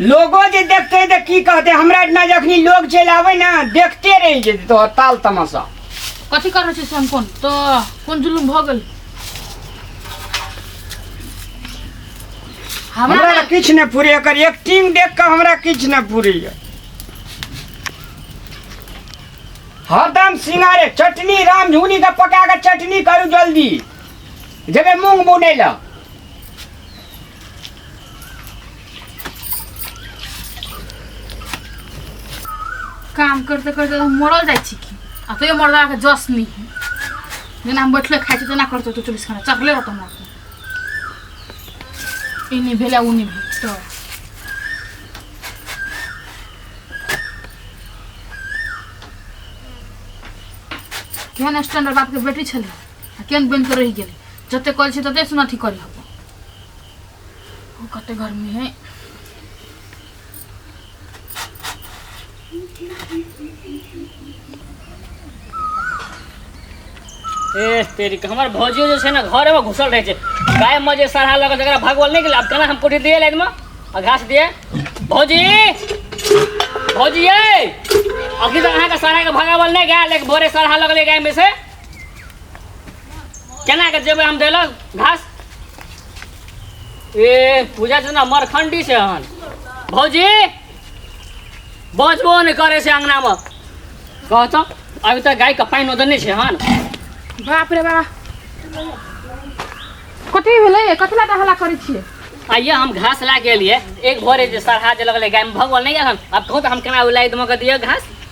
लोगो जे देखते तऽ की कहते हमरा एतना जखनी लोग चलि आबै ने देखते रहि जेतै तोहर ताल तमाशा कथी कर रहल छै से हम कोन तो कोन जुलुम भऽ गेल हमरा हमरा लए किछु नहि पूरे एकर एक्टिंग देख कऽ हमरा किछु नहि पूरैए हरदम सिंगारे चटनी राम झुनी के पका के चटनी करू जल्दी जेबै मूंग बुनै लए काम करते करते मरल जाइ छी की आ तैयो मरलाके जस नहि जेना हम बैठले खाइ छी तेना करतौ तू चौबीस घंटा चढ़ले रहतौ हमरा ई नहि भेलै ओ नहि भेल तो केहन स्टैंडर्ड बापके बेटी छलै आ केन बन के रह गेल जते कल छै तते सुन अथी करी हब ओ कते गर्मी है ए तेरी के हमर भौजियो जे छै ने घरे में घुसल रहे छै गाय में जे सरहा लगे जकरा भगवल नहीं गेल अब केना हम कोठी दिए लाइन में आ घास दिए भौजी भौजी ए अभी तक अहाँ के सरहा के भगावल नहीं गया लेकिन भोरे सरहा लगले गाय में से केना के जेबै हम देलक घास ए पूजा छै ना मरखंडी छै हन भौजी बजबो नहि करै छै अङ्गनामे कह तऽ अभी तऽ गायके पानि ओदन नहि छै हन बाप रे बाप कथी भेलै कथी लए हल्ला करै छियै आइए हम घास ला के लिए एक भोरे जे सरहा जे लगले गाय में भगवान नहीं आन अब कहूँ तो हम केना उ लाई दमक दिए घास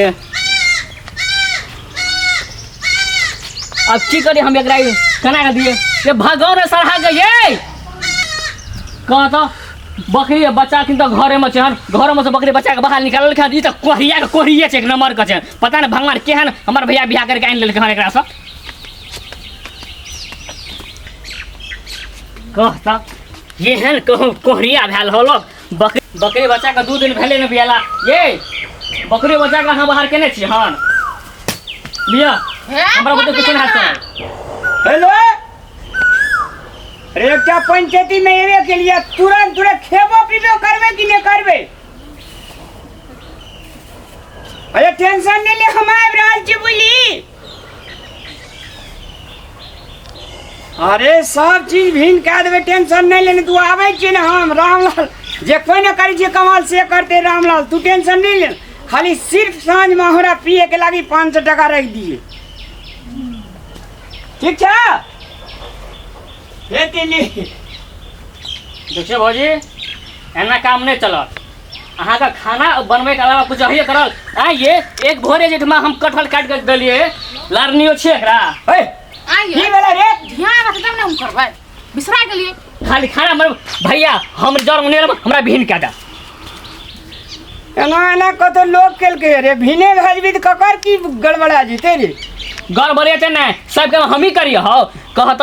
ए अब की करी हम एकरा ई केना के दिए ये भगो ने सरहा के ये कह तो बकरी के बच्चा किन तो घरे में छन घरे में से बकरी बच्चा के बाहर निकालल खान ई तो कोहरिया के कोहरिया छै एक नंबर के छै पता नहीं भगवान केहन हमर भैया बियाह करके आनि लेलकै हन एकरा से कह तो एहन कहूँ कोहरिया भेल होलो बकरी बकरी बच्चाके दू दिन भेलै ने बियाला ये बकरी बच्चाके अहाँ बाहर केने छी हन लिअ हमरा बुते किछु नहि हेतै हेलो रेवटा पंचायती में एबे के लिए तुरंत तुरंत खेबो पीबो करबे कि नहीं करबे अरे टेंशन नहीं ले हम आबि रहल छी बुझली अरे सब चीज भिन कए देबै टेंशन नहि लेने तू आबै छी ने हम रामलाल जे कोइ ने करै छियै कमाल से करते रामलाल तू टेंशन नहि ले खाली सिर्फ साँझमे हमरा पियैके लागि पाँच सए टाका राखि दिए ठीक छै हे तिली देखियौ भौजी एना काम नहि चलत अहाँ का खाना बनबै के अलावा कुछ अहिए करल आ ये एक भोरे जे हम कटहल काट के देलिए लारनियो छे एकरा हे आइए की भेलै रे ध्यान रख तब ने हम करबै बिसरा गेलिए खाली खाना मर भैया हम जर उन्हें हमरा भिन काटा एना एना कत लोग केलके रे भिने भेजबी त ककर की गड़बड़ा जेते रे गड़बड़े ते ना सबके हम ही करिए हौ कहत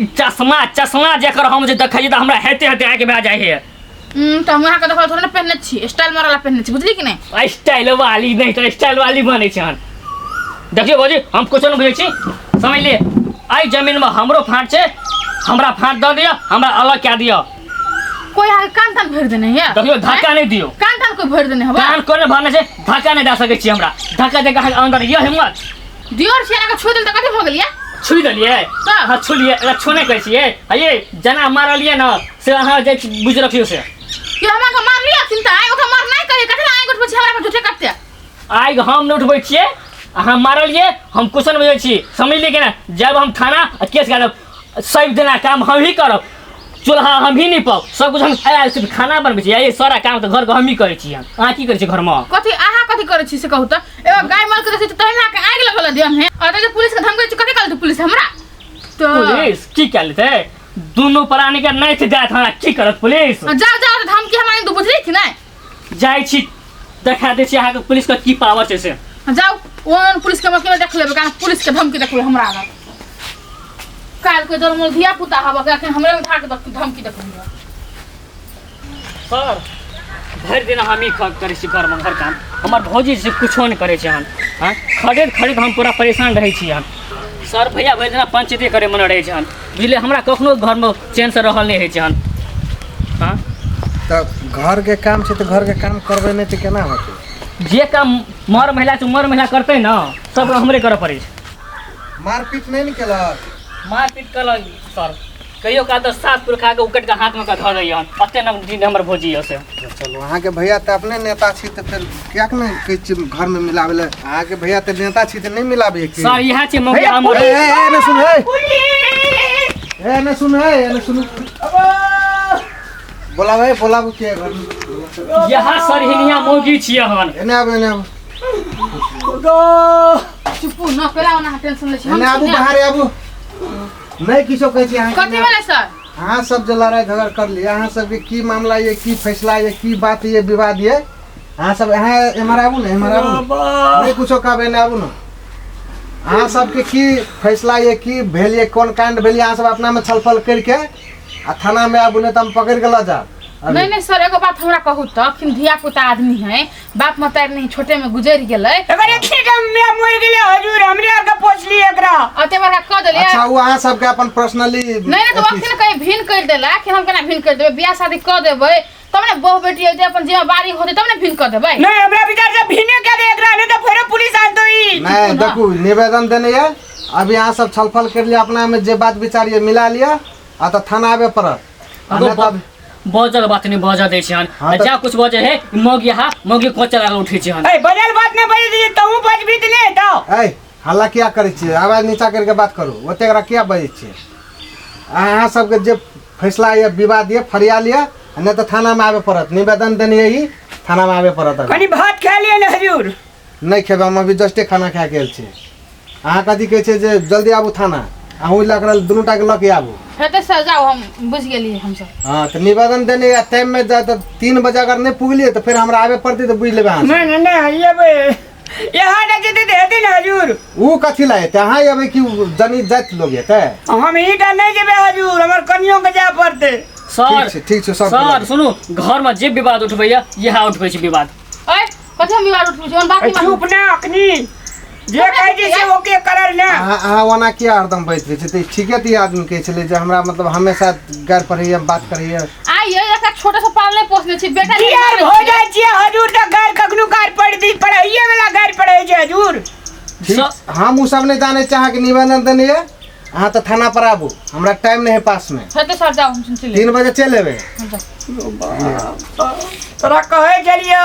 ई चश्मा चश्मा जेकर हम जे देखै छी तऽ हमरा हेते हेते आँखि भए जाइ है हम्म, तऽ हम अहाँके देखल थोड़े ने पहिने छी स्टाइल मारला पहिने छी बुझली कि नहि स्टाइल वाली नहीं तो स्टाइल वाली बने छन देखियो भौजी हम कुछ नहीं बुझे छी समझ लिए आई जमीन में हमरो फाट छे हमरा फाट दे दियो हमरा अलग क्या दियो कोइ अहाँके कान तान भरि देने है देखियो धक्का नहीं दियो कान तान कोइ भरि देने हवा कान कोने भरने छे धक्का नहीं दे सके छी हमरा धक्का दे के अहाँ अंदर ये हिम्मत दियोर छियै अगर छू देल तऽ कथी भऽ गेलियै छुई देलियै तऽ अहाँ छुलियै अगर छोने कहै छियै आ ये जेना मारलियै ने से अहाँ जे बुझ रखियो से कि हमरा के मार लिया चिंता आइ ओकरा मार नहि कहिए कथी आइ उठबै छियै हमरा पर झूठे कटते आइ हम नहि उठबै छियै अहाँ मारलियै हम क्वेश्चन बुझै छी समझलियै कि ने जब हम थाना आ केस गाड़ब सब जना काम हमही करब चूल्हा हमही निपब सब कुछ हम आयल सिर्फ खाना बनबै छी ये सारा काम तऽ घरके हमही करै छी हम अहाँ की करै छी घरमे कथी अहाँ कथी करै छी से कहू तऽ एगो गाय माल के देखै छी तहन अहाँके आगि लगल दिया में और जे पुलिस के धमकै छी कथी कहल तू पुलिस हमरा तो पुलिस की कयल छै दुनू प्राणी के नहि छै जायत हमरा की करत पुलिस जाओ जाओ धमकी हमरा दू बुझली कि नहि जाइ छी देखा दै छी अहाँके पुलिसके की पावर छै से जाउ ओहन पुलिसके मौके देख लेबै कारण पुलिसके धमकी देखबै हमरा आगा काल्हिके जब हमर धिया पुता हवा के एखन हमरे उठा के धमकी देखबै सर भरि दिन हम ई करै छी घरमे घर काम हमर भौजी से किछो नहि करै छै हन हँ खरीद खरीद हम पूरा परेशान रहै छी हन सर भैया भरि दिना पंचते करैमे रहै छै हन बुझलियै हमरा कखनो घरमे चैनसँ रहल नहि होइ छै हन हँ तऽ घरके काम छै तऽ घरके काम करबै नहि तऽ केना होतै जे काम मर महिला छै मर महिला करतै ने सब काम हमरे करऽ पड़ै छै मारपीट नहि ने केलक मारपीट केलक सर कहियो काल तऽ सास पुरखा के उकट के हाथ में के धऽ दैया अते न दिन हमर भोजी यऽ से चलू अहाँके भैया तऽ अपने नेता छी तऽ फेर क्या के नहीं कहे छी घर में मिलावे ले अहाँ के भैया ते नेता छी ते नहीं मिलावे के सर इहे छै मौका हमर ए ए ए, ने सुन ए पुलिस ए ने सुन ए ने सुन बोलावे बोलावे के घर में। इहे सर हिनिया मौगी छियै हन एने आबे एने आबे चुप न पेला ओना टेंशन ले छी एने आबू बाहर आबू नहीं किछो कहे छी अहाँ के कथी ने। भेलै सर अहाँ सब जे लड़ाई झगड़ कर लिए अहाँ सबके की मामला ये की फैसला ये की बात ये विवाद ये अहाँ सब अहाँ एम्हर आबू ने एम्हर आबू ने। नहि कुछो कहबै एने आबू ने अहाँ सबके की फैसला ये की भेल ये कोन कांड भेल ये अहाँ सब अपना में छलफल करके आ थाना में आबू नहि तऽ हम पकड़ के लऽ जाब अभी। नहीं नहीं सर एगो बात हमरा कहू तो कि धिया पुता आदमी है बाप मतारी नहीं छोटे में गुजर गेलै अगर एते कम में मर गेले हजूर हमरे आके पोछली एकरा अते बड़ा कह देलियै अच्छा वो अहाँ सबके अपन पर्सनली नहीं नहीं तो वक्त कहीं भिन कर देला कि हम केना भिन कर देबै बियाह शादी कह देबै तब ने बहु बेटी होते अपन जे बारी होते तब ने फिन कर देबै नहीं हमरा विचार से भीने के दे एकरा नहीं तो फेरो पुलिस आ तो ई नहीं देखू निवेदन देने ये अब यहाँ सब छलफल कर लिया अपना में जे बात विचार ये मिला लिया आ तो थाना आवे पड़त आ अगो नहीं तब बजल बात नहीं बजल दै छिहन हाँ आ तऽ- जा कुछ बजे हे मौगी हा मौगी कोच लगा उठै छिहन ए बजल बात नहीं बजे दीजिए तू बज भी ले तो ऐ हल्ला किया करे छियै आवाज नीचा करके बात करू ओते एकरा किया बजै छियै अहाँ सबके जे फैसला या विवाद ये फरियाल या नहीं तो थाना में आवे पड़त निवेदन देने यही थाना में आवे पड़त अभी कनी भात खा लिए ने हजूर नहीं खेबे हम अभी जस्टे खाना खा के आयल छी अहाँ कथी कहै छै जे जल्दी आबू थाना अहूँ लग रहल दुनू टाके लऽ के आबू हेतै सर जाउ हम बुझि गेलियै हमसब हाँ तो निवेदन देने या टाइम में जा तो तीन बजे अगर नहीं पुगलिए तो फिर हमरा आवे पड़ते तो बुझ लेबे अहाँ सब। मैं ने हइए बे यहाँ ना जते दे दिन हजूर ऊ कथी ला हेतै अहाँ अबै कि जनी जाइत लोग हेतै हम ही डर नहीं जेबे हजूर हमर कनियों के जाए पड़ते सर ठीक छै, ठीक छै, सब सर बोला। सुनू घर में जे विवाद उठबैया यहाँ उठबै छै विवाद ओए कथी हम विवाद उठबै छी ओन बात नहीं चुप ना अखनी जे कहे जे से ओके करल ना अहाँ अहाँ ओना किया हरदम बैठ रहै छै तऽ ठीके तऽ ई आदमी कहै छलै जे हमरा मतलब हमेशा गारि पढ़ैए बात करैए आई ये ऐसा छोटा सा पालने पोसने छी बेटा के यार हो जाए छी हजूर त घर कखनु घर पड़ दी पढ़ाइए वाला घर पड़े छै हजूर ठीक हम उ सब नहीं जाने चाह के निवेदन देने ये अहाँ तो थाना पर आबू हमरा टाइम नहीं है पास में छते सर जाओ हम सुन ले तीन बजे चल लेबे तोरा कहे चलियो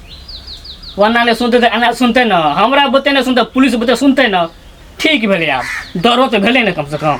वरना नहि सुनतै तऽ एना सुनतै ने हमरा बुते नहि सुनतै पुलिस बुते सुनतै ने ठीक भेलै आब डरो तऽ भेलै ने कमसँ कम